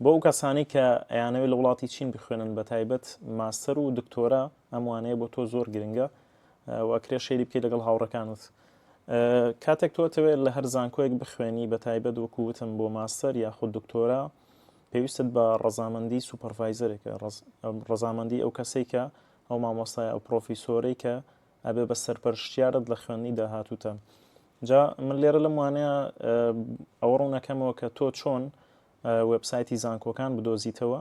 بۆ ئەو کەسانەی کە ئەیانەوێت لە وڵاتی چین بخوێنن بە تایبەت ماستەر و دکتۆرا ئەم وانەیە بۆ تۆ زۆر گرنگە و ئەکرێ شەیری بکەیت لەگەڵ هاوڕەکانت کاتێک تۆ ئەتەوێت لە هەر زانکۆیەک بخوێنی بە تایبەت وەکووتم بۆ ماستەر یاخود دکتۆرا پێویستت بە ڕەزامەندی سوپەرڤایزەرێکە ڕەزامەندی ئەو کەسێکە ئەو مامۆستای ئەو پرۆفیسۆرەی کە ئەبێ بە سەرپەرشتیارت لە خوێندنی داهاتووتە جا من لێرە لەم وانەیە ئەوە ڕوونەکەمەوە کە تۆ چۆن وبسایتی زانکۆکان بدۆزیتەوە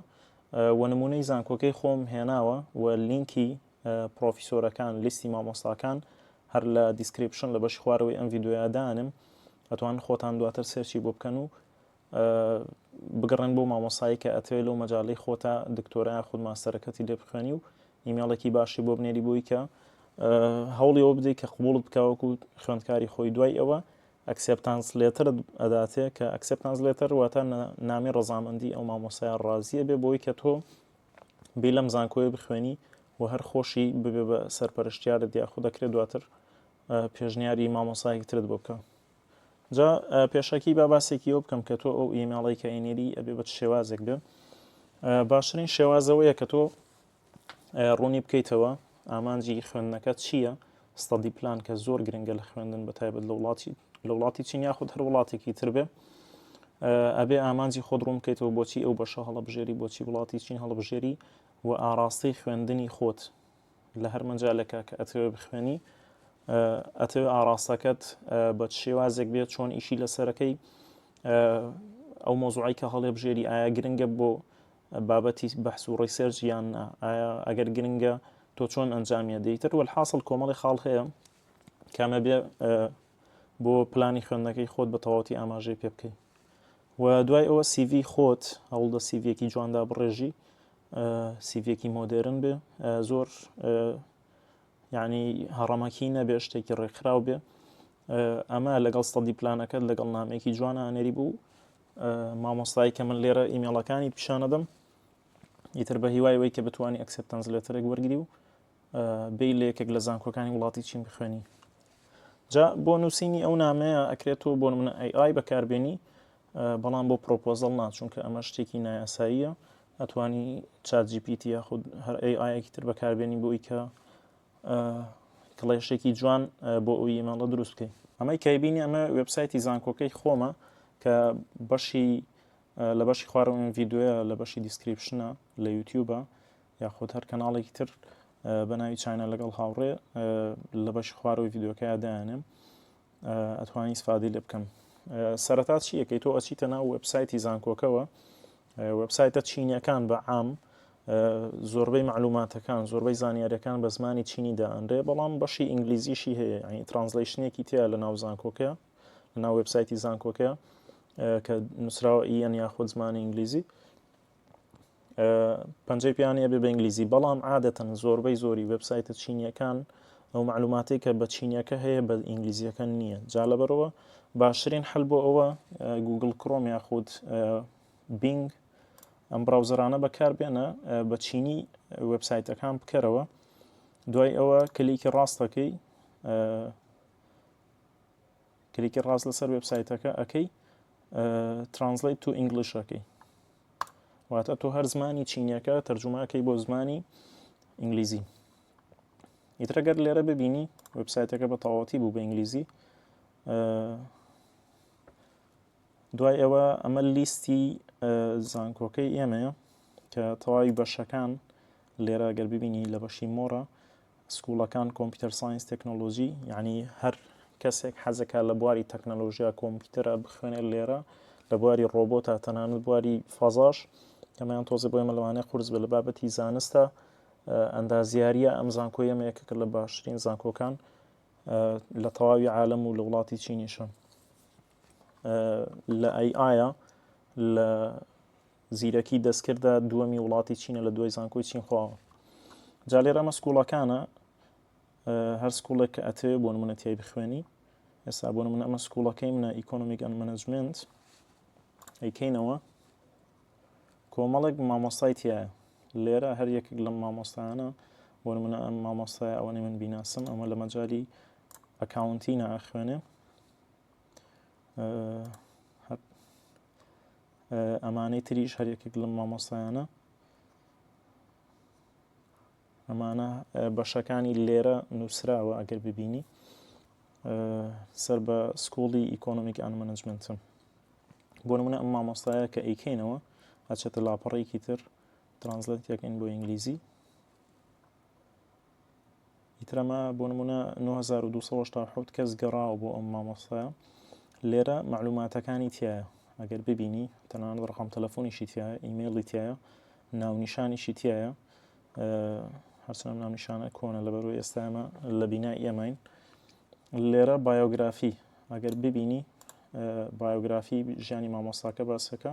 و نمونەی زانکۆکەی خۆم هێناوە و لینکی پرۆفیسۆرەکان لیستی مامۆستاکان هەر لە دیسکریپشن لە بەشی خوارەوەی ئەم یددیویادانم ئەتوان خۆتان دواتر سێرچی بۆ بکەن و بگەڕێن بۆ مامۆسایی کە ئەتەوێ لەو مەجالەی خۆتا دکتۆرا یاخود ماستەرەکەتی لێ بخوێنی و ئیمێڵێکی باشی بۆ بنێری بۆی کە هەوڵی ئەوە بدەیت کە قوبوڵت بکەوەکو خوێندکاری خۆی دوای ئەوە ئەکسپتانس لێترت ئەداتێ کە ئەکسپتانس لێتەر واتە نامی ڕزامەندی ئەو مامۆسای ڕازیە بێ بۆی کە تۆ بی لەم زانکۆی بخوێنی و هەر خۆشی ببێ بە سەرپەرشتیارە دیاخۆ دەکرێت دواتر پێشنیاری مامۆسایەکترت بۆ بکە جا پێشەکی با باسێکی ئەوە بکەم کە تۆ ئەو ئیمێڵی کە ئەینێری ئەبێ بە شێوازێک بێ باشترین شێوازەوەیە کە تۆ ڕوونی بکەیتەوە ئامانجی خوێندنەکە چییە ستادی پلان کە زۆر گرنگە لە خوێندن بە تایبەت لە وڵاتی لە وڵاتی چین یاخود هەر وڵاتێکی تر بێ ئەبێ ئامانجی خۆت ڕوون بکەیتەوە بۆچی ئەو بەشە هەڵبژێری بۆچی وڵاتی چین هەڵبژێری و ئاراستەی خوێندنی خۆت لە هەر مەجالێکە کە ئەتەوێ بخوێنی ئەتەوێ ئاراستەکەت بە شێوازێک بێت چۆن ئیشی لەسەرەکەی ئەو مۆزوعی کە هەڵێ بژێری ئایا گرنگە بۆ بابەتی بەحس و ڕیسێرج یان ئایا ئەگەر گرنگە تۆ چۆن ئەنجامیە دەیتر وەل حاصل کۆمەڵی خاڵ هەیە کامە بێ بۆ پلانی خوێندنەکەی خۆت بە تەواتی ئاماژەی پێ بکەیت و دوای ئەوە سیڤی خۆت هەوڵدە سیڤەکی جواندا بڕێژی سیڤێکی مۆدێرن بێ زۆر ینی هەڕەمەکی نەبێ شتێکی ڕێکخراو بێ ئەمە لەگەڵ سەدی پلانەکەت لەگەڵ نامێکی جوانە ئەنێری بوو مامۆستای کە من لێرە ئیمێڵەکانی پیشانەدەم ئیتر بە هیوای وی کە بتانی ئەکسپتەنس لێتەرێک وەرگری و بێی لە یەکێک لە زانکۆکانی وڵاتی چین بخوێنی جا بۆ نووسینی ئەو نامەیە ئەکرێت تۆ بۆ منە ئەی بەکاربێنی بەڵام بۆ پرۆپۆزل ناچونکە ئەمە شتێکی نایاساییە ئەتوانی چات جیPT یاخود هەر ئەی ئاەکی تر بەکاربێنی بۆی کە کڵێشێکی جوان بۆ ئەو ئیمەڵە دروستکەی ئەمەی کەیبینی ئەمە وبسایتی زانکۆکەی خۆمە کە بەشی لە بەشی خوارەوەن یددیوە لە بەشی دیسکریپشنە لە یوتیوبە یاخود هەر کەناڵێکی تر بە ناوی چینە لەگەڵ هاوڕێ لە بەشی خوارەوەی یددیوەکەی دایانێم ئەتوانی سفادی لێ بکەم سەرەتا چیەکەی تۆ ئەچیتە ناو وبسایتی زانکۆکەوە وبسایتە چینەکان بە عام زۆربەی معلوماتەکان زۆربەی زانیارەکان بە زمانی چینی دانرێ بەڵام بەشی ئینگلیزیشی هەیە ینی ترانزلیشنێکی تیا لە ناو زانکۆکە لە ناو وبسایتی زانکۆکە کە نووسراوە ئیەن یاخود زمانی ئینگلیزی پەنجەی پێیانی ئەبێ بە ئینگلیزی بەڵام عادەتەن زۆربەی زۆری وێبسایتە چینیەکان ئەو معلوماتەی کە بە چینیەکە هەیە بە ئینگلیزیەکە نییە جا لەبەرەوە باشترین حل بۆ ئەوە گوگل کڕۆم یاخود بینگ ئەم براوزەرانە بەکاربێنە بە چینی وبسایتەکان بکەرەوە دوای ئەوە کلیکی ڕاستەکەی کلیکی ڕاست لەسەر وێبسایتەکە ئەەکەی ترانسلیت تو ئینگلیشەکەی واتە تۆ هەر زمانی چینیەکە تەرجوماکەی بۆ زمانی ئینگلیزی ئیترەگەر لێرە ببینی وبسایتەکە بە تەواتی بوو بە ئینگلیزی دوای ئەوە ئەمە لیستی زانکۆکەی ئێمەیە کە تەواوی بەشەکان لێرە گەر ببینی لە بەشی مۆرە سکوڵەکان کۆمپیوتەر ساینس تەکنەلۆجی یعنی هەر کەسێک حەزەکە لە بواری تەکنەلۆژیا کۆمپیوتەرە بخوێنێت لێرە لە بواری ڕۆبۆتە تەنانەت بواری فەزاش ئەمەیان تۆزە بۆ ئێمە لەوانەیە قورس بە لە بابەتی زانستە ئەندازیاریە ئەم زانکۆی ئەمە یەکەکە لە باشترین زانکۆکان لە تەواوی عالم و لە وڵاتی چینیشە لە ئەی ئایا لە زیرەکی دەستکردە دووەمی وڵاتی چینە لە دوای زانکۆی چینخواوە جا لێرە ئەمە سکوڵەکانە هەر سکوڵێک کە ئەتێ بۆ منە تای بخوێنی ئێستا بۆ من ئەمە سکوڵەکەی منە ئیکۆنمیک ئەن منجمنت ئەیکەینەوە کۆمەڵێک مامۆستای تایە لێرە هەر یەکێک لەم مامۆستایانە بۆ منە ئەم مامۆستای ئەوەنی من بیناسم ئەمە لە مەجای ئەکاونتی ناخوێنێ ئەمانەی تریش هەر یەکێک لەم مامۆستایانە ئەمانە بەشەکانی لێرە نووسراوە ئەگەر ببینی سەر بە سکوڵی ئیکۆنمیک ئەن منجمنتم بۆ منە ئەم مامۆستایە کە ئەیکەینەوە ئەچێتە لاپەڕێکی تر ترانزلێت یەکەین بۆ ئینگلیزی ئیتر ئەمە بۆ نمونە 9287 کەس گەڕاوە بۆ ئەم مامۆستایە لێرە معلوماتەکانی تایە ئەگەر ببینی تەنان ڕقم تەلەفۆنیشی تایە ئیممەڵی تایە ناونیشانیشی تایە هەرچەند ناونیشانە کۆنە لەبەرو ئێستامە لە بینا ئێماین لێرە بایۆگرافی ئەگەر ببینی بایۆگرافی ژیانی مامۆستاکە باسەکە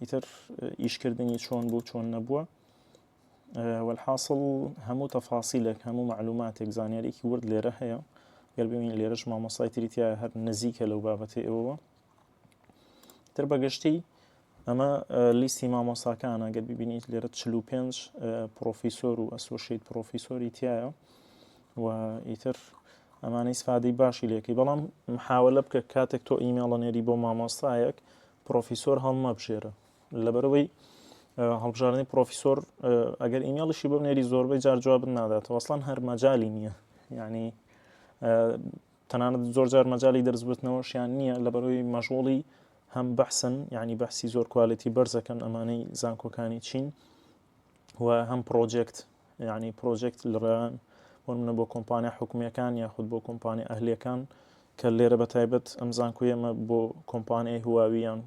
ئیتر ئیشکردنی چۆن بوو چۆن نەبووە والحاصل هەموو تەفاسیلێک هەموو معلوماتێک زانیارێکی ورد لێرە هەیە گەر ببین لێرەش مامۆسای تریتیا هەر نزیکە لەو بابەتی ئەوەوە تر بەگشتی ئەمە لیستی مامۆساکانە گەر ببینیت لێرە 45 پرۆفیسۆر و ئەسۆشیت پرۆفیسۆری تایە و ئیتر ئەمانەی سفادەی باشی لێکی بەڵام محاولە بکە کاتێک تۆ ئیمێڵە نێری بۆ مامۆستایەک پرۆفیسۆر هەڵمەبژێرە لەبەرەوەی هەڵبژاردنی پرۆفیسۆر ئەگەر ئیمێڵیشی بۆ نێری زۆربەی جار جواب ناداتەوە ئەسڵان هەر مەجای نییە ینی تەنانەت زۆر جار مەجای دەرزبتنەوەشیان نییە لە بەرەوەی مەژۆڵی هەم بەحسن ینی بەحسی زۆر کوالەتی بەرزەکەن ئەمانەی زانکۆکانی چین و هەم پرۆجێکت یعنی پرۆجێکت لڕێن وەمنە بۆ کۆمپانیا حکومیەکان یاخود بۆ کۆمپانیا ئەهلەکان کە لێرە بە تایبەت ئەم زانکو ئێمە بۆ کۆمپانیای هواویان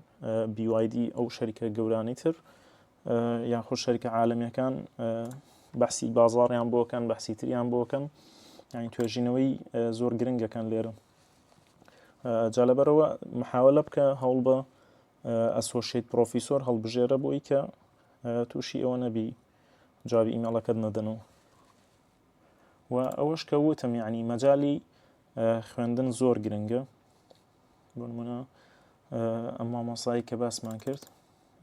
BYD ئەو شەریکە گەورانی تر یاخۆ شەریکە عاالمیەکان بەسی بازاڕیان بۆکەن بەسی تریان بۆکەن یعنی توێژینەوەی زۆر گرنگەکان لێرە جالەبەرەوە محاولە بکە هەوڵ بە ئەسۆشیت پرۆفیسۆر هەڵبژێرە بۆی کە تووشی ئەوە نەبی جوابی ئیمەڵەکەت نەدەن و و ئەوەش کە وتم یعنی مەجای خوێندن زۆر گرنگە بۆ منە ئەم مامۆسایی کە باسمان کرد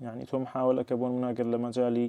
یعنی تۆ محاولەکە بۆ مناگەر لە مەجای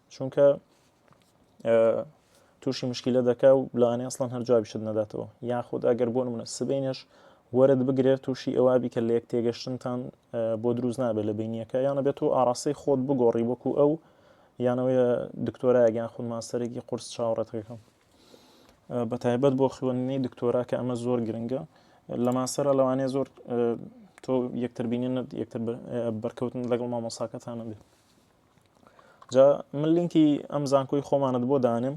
چونکە تووشی مشکیلە دەکا و لەوانێ ئەسڵان هەر جوابیشت نەداتەوە یاخود ئەگەر بۆ منە سبینش وەرت بگرێت تووشی ئەوابی کە لە یەک تێگەشتنتان بۆ دروست نابێت لە بینیەکە یانە بێت و ئاراستەی خۆت بگۆڕی وەکو ئەو یانەوەی دکتۆرایگەیان خود ماستەرێکی قرس چاوەڕێتەکەم بە تایبەت بۆ خوێندنی دکتۆرا کە ئەمە زۆر گرنگە لە ماسەرە لەوانێ زۆر تۆ یەکتربینێنت یەکتر بەرکەوتن لەگەڵ مامۆساکەتانە بێت جا من لینکی ئەم زانکۆی خۆمانت بۆ دانێم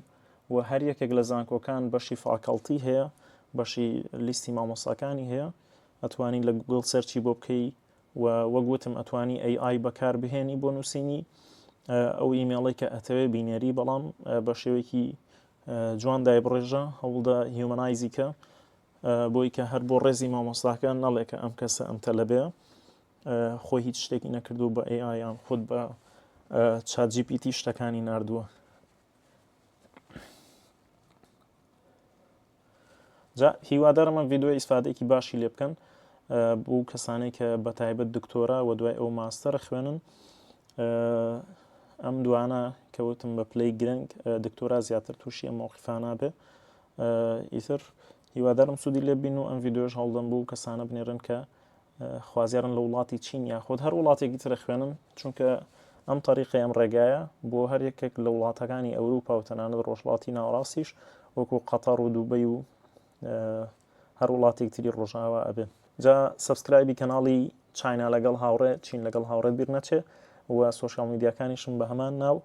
و هەر یەکێک لە زانکۆکان بەشی فاکەڵتی هەیە بەشی لیستی مامۆساکانی هەیە ئەتوانی لە گوگل سەرچی بۆ بکەی و وەگوتم ئەتوانی AI بەکار بهێنی بۆ نووسینی ئەو ئیمێڵی کە ئەتەوێ بینێری بەڵام بە شێوەیەکی جوان دای بڕێژە هەوڵدا هیومەنایزیکە بۆی کە هەر بۆ ڕێزی مامۆستاکە نەڵێکە ئەم کەسە ئەم تەلەبێ خۆی هیچ شتێکی نەکردو بە AI یان خود بە چات جی پی تی شتەکانی نردووە جا هیوادارم من ڤیددیو ئیسفادێکی باشی لێ بکەن بۆ کەسانێک کە بە تایبەت دکتۆرا و دوای ئەو ماستەر خوێنن ئەم دوانە کەوتم بە پلی گرنگ دکتۆرا زیاتر تووشی ئەم مووقیفانە بێ ئیتر هیوادارم سوودی لێ بین و ئەم ڤیددیوش هەڵدەم بوو کەسانە بنێرن کە خوازیارن لە وڵاتی چین یاخود هەر وڵاتێکی ترە خوێنن چونکە ئەم تەریقی ئەم ڕێگایە بۆ هەر یەکێک لە وڵاتەکانی ئەوروپا و تەنانەت ڕۆژڵاتی ناوەڕاستیش وەکو قەتەڕ و دووبەی و هەر وڵاتێک تری ڕۆژاوا ئەبێ جا سبسکرایبی کەناڵی چاینا لەگەڵ هاوڕێ چین لەگەڵ هاوڕێ بیر نەچێ و سوۆشال میدیاکانیشم بە هەمان ناو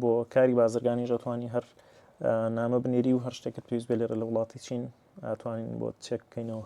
بۆ کاری بازرگانی ژەتوانی هەر نامە بنێری و هەر شتێکت پێویست بێ لێرە لە وڵاتی چین ئەتوانین بۆ چێک بکەینەوە